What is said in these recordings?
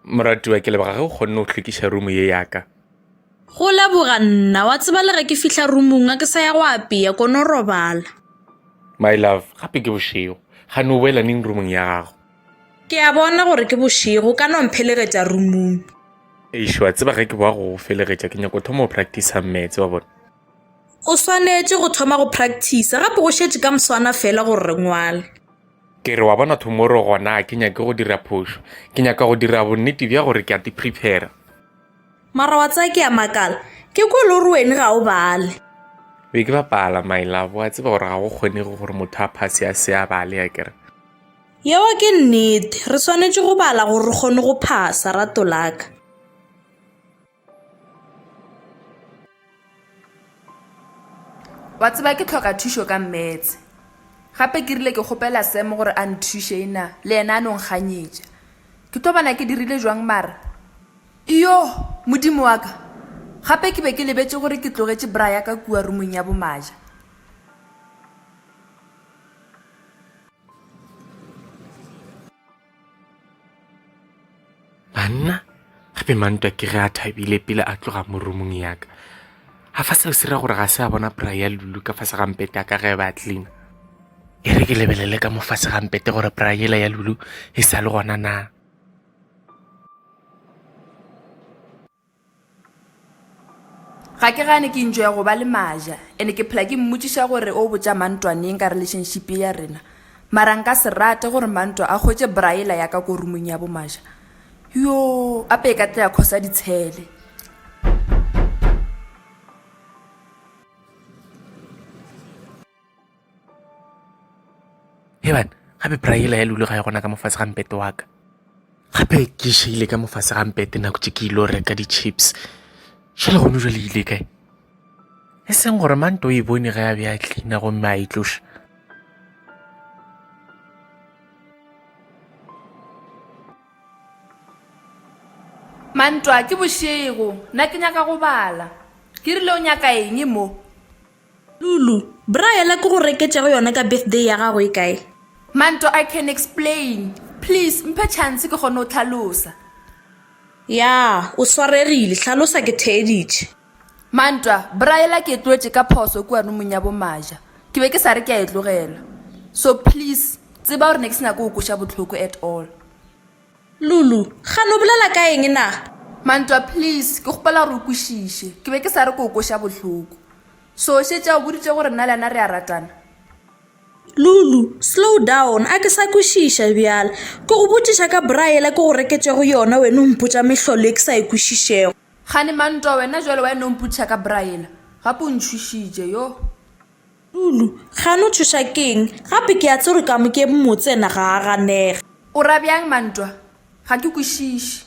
moratiwa ke leboga ge o kgonne go hlwekiša rumo ye yaka go leboga nna wa tseba le ge ke fihla rumong a ke sa ya go apea kono robala my love gape ke bošego ga ne o boela neng rumong ya gago ke a bona gore ke bošego ka no mphelegetša rumong ešo wa tseba ge ke boa go felegetša ke nyako thoma go practice metse wa bona O swanetše go thoma go practicer gape go šetše ka mswana fela gore re ngwale. Ke re, wa bona tomorrow gona a ke nyake go dira phošo. Ke nyaka go dira bonnete bja gore ke a ti prepare. Mara wa tseba ke a makala, ke kwele o re wene ga o bale. Be ke bapala my love, wa tseba gore ga go kgonege gore motho a phase a se a bale akere. Yeo ke nnete, re swanetše go bala gore re kgone go phasa, ratolaka. Wa tseba ke tlhoka thušo ka mmetse. Gape ke rile ke kgopela Sam gore a nthuše ena le yena a no nkganyetša. Ke tlo bona ke dirile jwang mara. Iyoh! Modimo wa ka! Gape ke be ke lebetše gore ke tlogetše bra ya ka kua rumong ya bomaja. banna gape mantwa ke ge a thabile pele a tloga mo roomong yaka ga fa seo se ra gore ga se a bona pry ya lulu ka fase gampete a ka ge ba clean e re ke lebelele ka mo fase gampete gore pry yela ya lulu e sa le gona na Ga ke gane ke enjoya go ba le Maja and ke phela ke mmotšiša gore o botša Mantwa neng ka relationship ye ya rena. Mara nka se rate gore Mantwa a hwetše braailer ya ka ko roomong ya bo Maja. Yoo, ape e ka tla ya khosa ditshele. heban gape praela ya lule ga ya gona ka mofase ga mpete wa ka gape ke šeile ka mofase ga mpete nako tše ke ile reka di-chips šele gone jale ile kae e seng gore mante o e bone ge a be a tlina gomme a e tloša mantwa ke bošego nna ke nyaka go bala ke rile o nyaka eng mo Lulu, Bra yela ke go reketšego yona ka birthday ya gago e kae? Manto, I can explain. Please mphe chance ke kgone go hlalosa. Ya, o swaregile. Hlalosa ke theeditše. Mantwa, Bra yela ke e tlogetše ka phoso kua rumong ya bo Maja. Ke be ke sa re ke a e tlogela. So please tseba gore ne ke se nyake go go kweša bohloko at all. Lulu, Ga lo bolela ka eng na? Mantwa, Please, ke kgopela gore o kwešiše. Ke be ke sa re ke o kweša bohloko. So o šetše a o boditše gore nna le yena re a ratana? Lulu, Slow down, a ke sa kwešiša bjale. Ke go botšiša ka bra yela ke go reketšego yona wena o mpotša mehlolo e ke sa e kwešišego. Kgane Mantwa, Wena bjale wa e no mpotšiša ka bra yela? Gape o ntšhošitše, yoh. Tulu, Kgane o tšhoša ke eng? Gape ke a tseba gore Kamokeme motse yena ga a ganege. O ra bjang Mantwa? Ga ke kwešiše.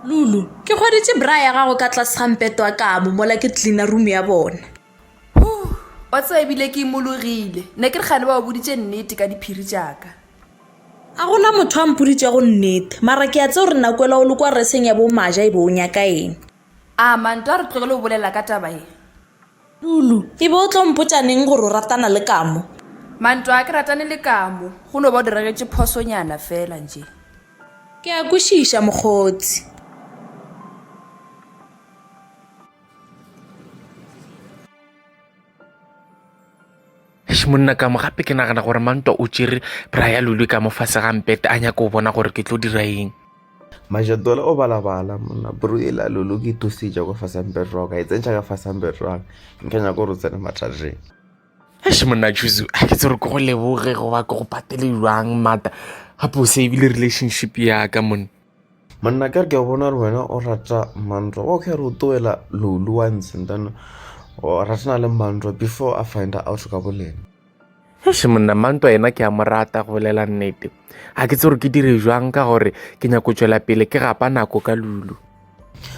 Lulu, Ke hweditše bra ya gago ka tlase ga mpeto wa kamo mola ke cleaner room ya bona. Huh, wa tseba e bile ke imologile. Ne ke re kgane ba o boditše nnete ka diphiri tša ka. A go na motho a mpoditšego nnete, mara ke a tseba gore Nakwela o le kwa reseng ya bo Maja e be o nyaka eng. A Mantwa a re tlogele go bolela ka taba ye? Lulu, E be o tlo mpotša neng gore o ratana le Kamo? Mantwa, A ke ratane le Kamo, go no ba o diregetše phosonyana fela nje. Ke a kwešiša, mokgotsi. Eish monna ka mo gape ke nagana gore mantwa o tšere bra ya lulwe ka mo fase ga mpete a nyako o bona gore ke tlo dira eng majatola o balabala monna bro e la lulu ke thusetša kwa fase mpete wa ka e tsentšha ka fase mpete wa ka nke nyako gore o tsene mathajeng eish monna juzu a ke tsere ke go leboge goba ke go patele jwang mata gape o savile relationship ya ka monna monna ka ke bona re wena o rata mantlo wa kgare o toela lolu once and then o ratana le mantlo before a find out ka bolena eish monna mantlo yena ke a mo rata go bolela nnete ga ke tse gore ke dire jwang ka gore ke nyako tswela pele ke gapa nako ka lulu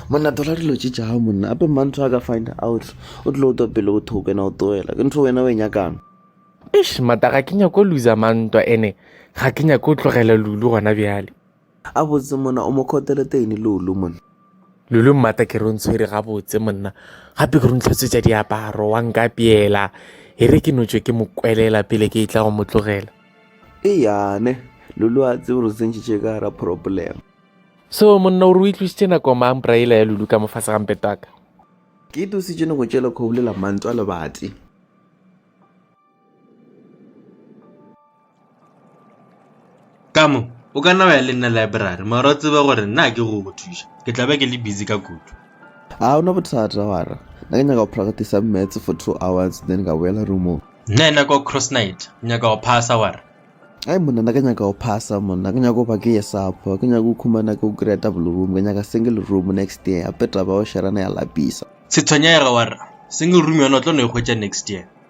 monna tola dilo tše tša gago monna ape mantlo a ka find out o tlile o twa pele o thoko ena o toela ke ntho wena o e nyakang eish mata ga ke nyako lusa mantwa ene ga ke nyako tlogela lulu gona bjale Gabotse monna o mo khotele teine Lulu monna. Lulu mmata ke re o ntshwere gabotse monna gape ke re o ntlhatswetsa diaparo wa nka peela e re ke notswe ke mo kwelela pele ke e tla go mo tlogela. E yane Lulu a tsebe re tsentšitše ka gara problem. So monna o re o itlositše nako mang braela ya Lulu ka mo fase ga mpetaka. Ke itositše ne go tšele kgobulela mantwa lebati. ka mo o ka nna wa ya le nna library mara o tsebe gore nna ke go go thuša ke tla be ke le busy ka kutu a o na bothata wara na ke nyaka go practice maths for two hours then ka boela roomong nna e nako cross night nyaka go phasa wara ai monna na ke nyaka go phasa monna ke nyaka go ba ke ye supper ke nyaka go khumana ke go kry-a double room ke nyaka single room next year ape taba o sherana ya lapisa se tshwenyega wara single room yona o tlo no e hwetša next year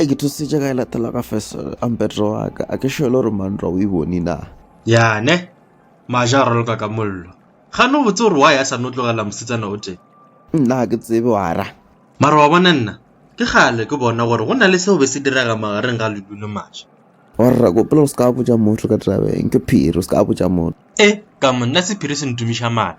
E ke thusitše ka e latela ka fesele a mpetro wa ka a ke šele gore manrwa o e bone na Yane, maja a roloka ka mollo. Gane o botse gore wa ya sa no tlogela mosetsana o tee. Nna ke tsebe wa ra. Mara wa bona nna, ke kgale ke bona gore go na le seo be se direga magareng ga Lulu le Maja. Wa rra ko pele o se ka botša motho ka tabeng, ke phiri o se ka botša motho. E, ka mo nna sephiri se ntumiša mala.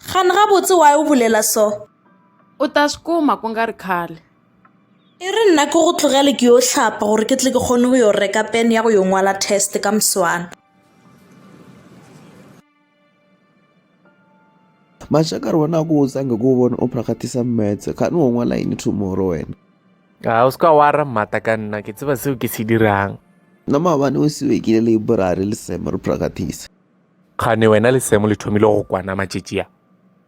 Xana gabotse why o bolela so? U ta swi kuma ku nga ri khale. E re nna ke go tlogele ke yo hlapa gore ke tle ke kgone go yo reka pen ya go yo ngwala test ka moswana. Mashaka re bona ku utsange ku bona u practice maths kani wo ngwala yini tomorrow wena. A ah, u ska wara mata ka nna ke tseba seo ke se dirang. Na mabane u siwekile library le same re practice. Kgane wena le Semo le thomile go kwana matšetši a?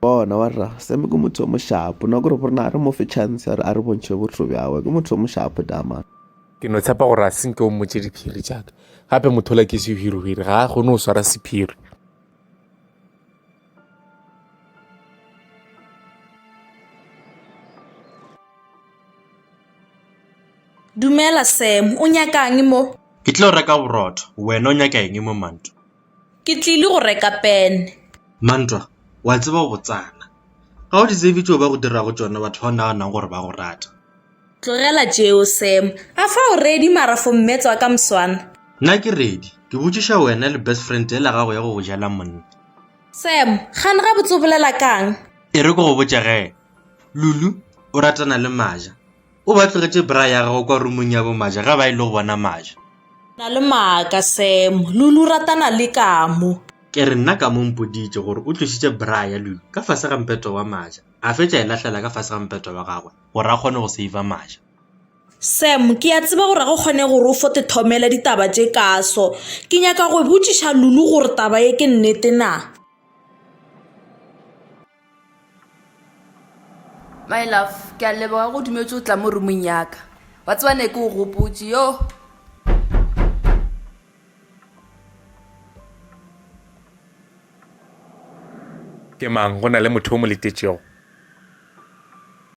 Bona wa rra, Semo ke motho yo mošapo, na gore gore na re mo fe chance ya gore a re bontšhe botho bjagwe, ke motho yo mošapo dama. Ke no tshepa gore a se nke o mmotše diphiri tšaka, gape mothola ke sehwirihwiri, ga a kgone go swara sephiri. Dumela Sam, o nyakang mo? Ke tlilo reka borotho, wena o nyaka eng mo Mantwa? Ke tlile go reka pene. Mantwa, wa tseba o botsana. Ga o di tsebe tšeo ba go dirago tšona batho ba o naganang gore ba go rata. Tlogela tšeo Sam, a fa o ready mara for mmetswa ka mswana? Nna ke ready, ke botšiša wena le best friend yela gago ya go go jela monna. Sam, gane gabotse o bolela kang? E re ke go botše ge, Lulu o ratana le Maja. O ba tlogetše bra ya gagwe kwa rumong ya bomaja ge ba ile go bona Maja. Na le maaka, Sam. Lulu o ratana le Kamo. Ke re nna Kamo o mpoditše gore o tlošitše bra ya Lulu ka fase ga mpeto wa Maja, a fetša a e lahlela ka fase ga mpeto wa gagwe gore a kgone go seiva Maja. Sam, ke a tseba gore ga go kgonege gore o fo te thomela ditaba tše kaso. Ke nyaka go botšiša Lulu gore taba ye ke nnete na. My love, ke a leboga go dumetše o tla mo roomong yaka. Wa tseba ne ke o gopotše, yoh. Ke mang? Go na le motho yo mo letetšego?